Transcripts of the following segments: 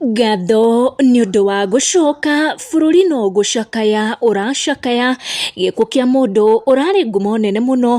Ngatho nĩ ũndũ wa gũcoka, bũrũri no gũcakaya ũracakaya, gĩkuũ kĩa mũndũ ũrarĩ ngumo nene mũno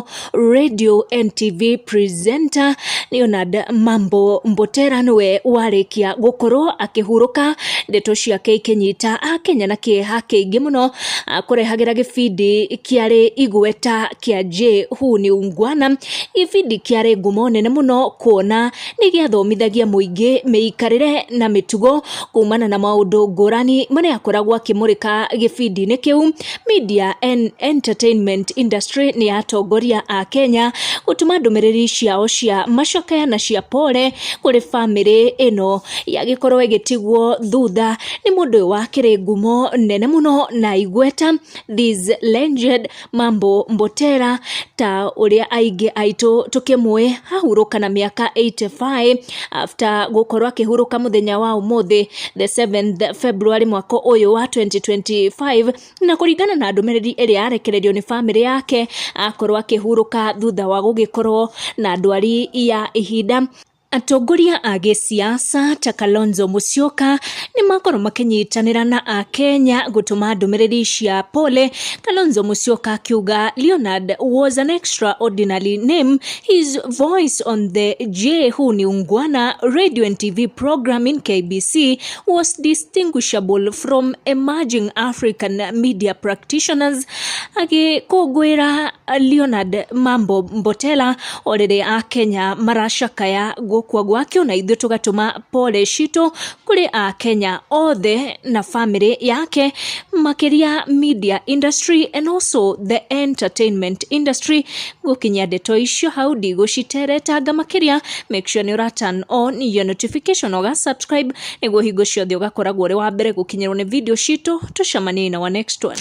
Radio and TV presenter Leonard Mambo Mbotera nĩwe warĩkia gũkorwo akĩhurũka, ndeto ciake ikĩnyita akenya na kĩeha kĩingĩ mũno, akũrehagĩra gĩbindi kĩarĩ igweta kĩa Je huu ni Ungwana? gĩbindi kĩarĩ ngumo nene mũno kuona, nĩ gĩathomithagia mũingĩ mĩikarĩre na mĩtugo kumana na maũndũ ngũrani marĩa akoragwo akĩmũrĩka gĩbindi-inĩ kĩu. Media and Entertainment Industry nĩ atongoria a Kenya gũtũma ndũmĩrĩri ciao cia macakaya na cia pole kũrĩ bamĩrĩ ĩno yagĩkorwo ĩgĩtigwo thutha nĩ mũndũ ũyũ wakĩrĩ ngumo nene mũno na igweta this legend Mambo Mbotera ta ũrĩa aingĩ aitũ tũkĩmũĩ ahurũka na mĩaka 85 after gũkorwo akĩhurũka mũthenya wa ũmũthĩ the 7th February mwaka ũyũ wa 2025 na kũringana na ndũmĩrĩri ĩrĩa yarekererio nĩ bamĩrĩ yake akorwo akĩhurũka thutha wa gũgĩkorwo na ndwari ya ihinda Atongoria a gĩsiasa ta Kalonzo Musyoka nĩ makorwo makĩnyitanĩra na Akenya gũtũma ndũmĩrĩri cia pole, Kalonzo Musyoka akiuga Leonard was an extraordinary name, his voice on the J Who ni Ungwana radio and TV program in KBC was distinguishable from emerging African media practitioners, agĩkũngũĩra Leonard Mambo Mbotela o rĩrĩ a Kenya maracakaya gũkua gwake ona ithuĩ tũgatũma pole citũ kũrĩ a Kenya othe na family yake makĩria media industry and also the entertainment industry gũkinyia ndeto icio hau ndigũciteretanga makĩria make sure nĩ ũra turn on your notification ũga subscribe nĩguo hingo ciothe ũgakoragwo ũrĩ wa mbere gũkinyĩrwo nĩ video citũ tũcemanie na wa next one